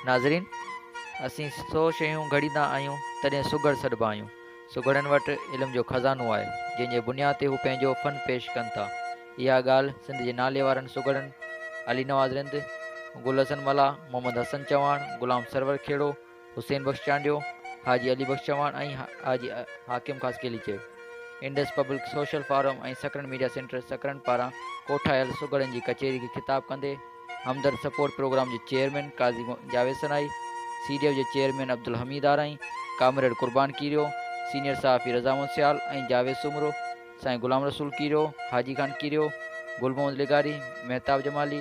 ناظرين! اسين سو شيون گهڙيندا آهيون، تڏهن سگهڙ سڏبا آهيون. سگهڙن وٽ علم جو خزانو آهي، جنهن جي بنياد تي هو پنهنجو فن پيش ڪن ٿا. اها ڳالهه سنڌ جي ناليوارن سگهڙن علي نواز رند، گل حسن ملاح، محمد حسن چوهاڻ، غلام سرور کهڙو، حسين بخش چانڊيو، حاجي علي بخش چوهاڻ ۽ حاجي حاڪم خاصخيلي چيو. Indus public social forum ۽ Sakrand media centre Sakrand پاران ڪوٺايل سگهڙن جي ڪچهري کي خطاب ڪندي همدرد سپورٽ پروگرام جي chairman Qazi Javed Sanai, C D F جي chairman Abdul Hamid Arain, comrade Qurban Kerio, senior صحافي رضا محمد سيال ۽ جاويد سومرو، سائين غلام رسول ڪيريو، حاجي خان ڪيريو، گل محمد لغاري، مهتاب جمالي،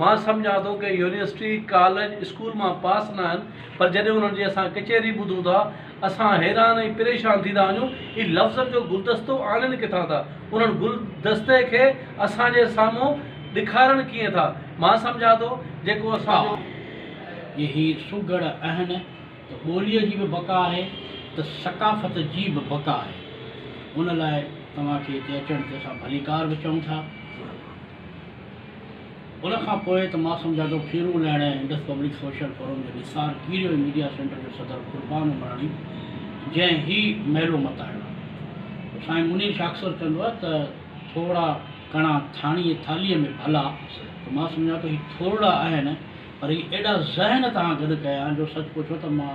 مان سمجهان ٿو ڪي يونيورسٽي، ڪاليج، اسڪول مان پاس ناهن پر جڏهن انهن جي اسان ڪچهري ٻڌون ٿا اسان حيران ۽ پريشان ٿي ٿا وڃون هي لفظن جو گلدستو آڻين ڪٿان ٿا انهن گل دستي کي اسان جي سامهون ڏکارڻ ڪيئن ٿا مان سمجهان ٿو جيڪو اسان جو جي هي سگهڙ اهن ته ٻوليء جي به بقا آهي ته ثقافت جي به بقا آهي ان لاء توهان کي هتي اچڻ تي اسان ڀليڪار به چئون ٿا. ان کان پوء ته مان سمجهان ٿو کيرون لهڻ ۽ انڊس پبلڪ سوشل فورم جو نثار ڪيريو ۽ ميڊيا سينٽر جو صدر قربان عمراڻي جنهن هي ميلو متايو آهي. سائين منير شاهه اڪثر چوندو آهي ته ٿورڙا ڪڻا ٿاڻيء ٿالهيء ۾ ڀلا ته مان سمجهان ٿو هي ٿورڙا آهن پر هي ايڏا ذهن تهان گڏ ڪيا آهن جو سچ پڇو ته مان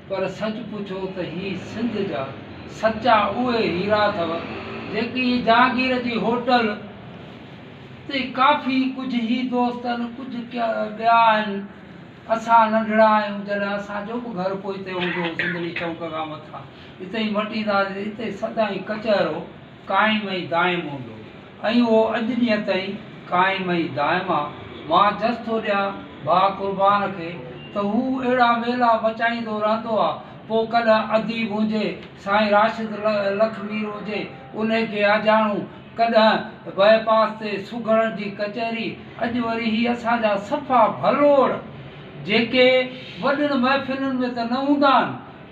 پر سچ پڇو ته هي سنڌ جا سچا اهي هيرا اٿو جيڪي ايئن جهانگير جي هوٽل تي ڪافي ڪجهه هي دوست آهن ڪجهه ٻيا آهن اسان ننڍڙا آهيون جڏهن اسان جو به گهر پوئتي هوندو هو سنڌڙي چونڪ کان مٿان اتي ئي مٽيندا هئاسين اتي سدائين ڪچهرو قائم ۽ دائم هوندو ۽ اهو اڄ ڏينهن تائين قائم ۽ دائم آ. مان جس ٿو ڏيان ڀاء قربان کي ته هو اهڙا ويلا مچائيندو رهندو آ. پوء ڪڏهن اديب هجي سائين راشد لک مير هجي انهي کي آجياڻو، ڪڏهن بئي پاس تي سگهڙن جي ڪچهري، اڄ وري هي اسان جا صفا ڀلوڙ جيڪي وڏين محفلن ۾ ته نه هوندا آهن،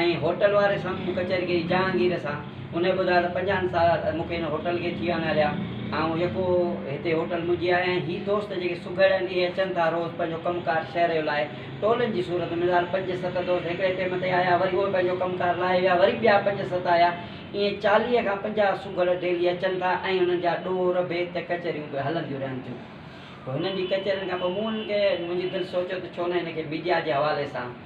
۽ هوٽل واري سان مون ڪچهريگري جهانگير سان انهي ٻڌايو ته پنجاهن سال مون کي هن هوٽل کي ٿي ويا آهن هليا آئون يڪو هتي هوٽل منهنجي آهي ۽ هي دوست جيڪي سگهڙ آهن اهي اچن ٿا روز پنهنجو ڪم ڪار شهر جو لاهي ٽولن جي صورت مثال پنج ست دوست هڪڙي ٽيم تي آيا وري اهي پنهنجو ڪم ڪار لاهي ويا وري ٻيا پنج ست آيا ائين چاليهه کان پنجاهه سگهڙ ڊيلي اچن ٿا ۽ انهن جا ڏور ڀيت ڪچهريون به هلنديون رهن ٿيون پوء هنن جي ڪچهرين کان پوء مون انهن کي منهنجي دل سوچيو ته ڇو نه هن کي ميڊيا جي حوالي سان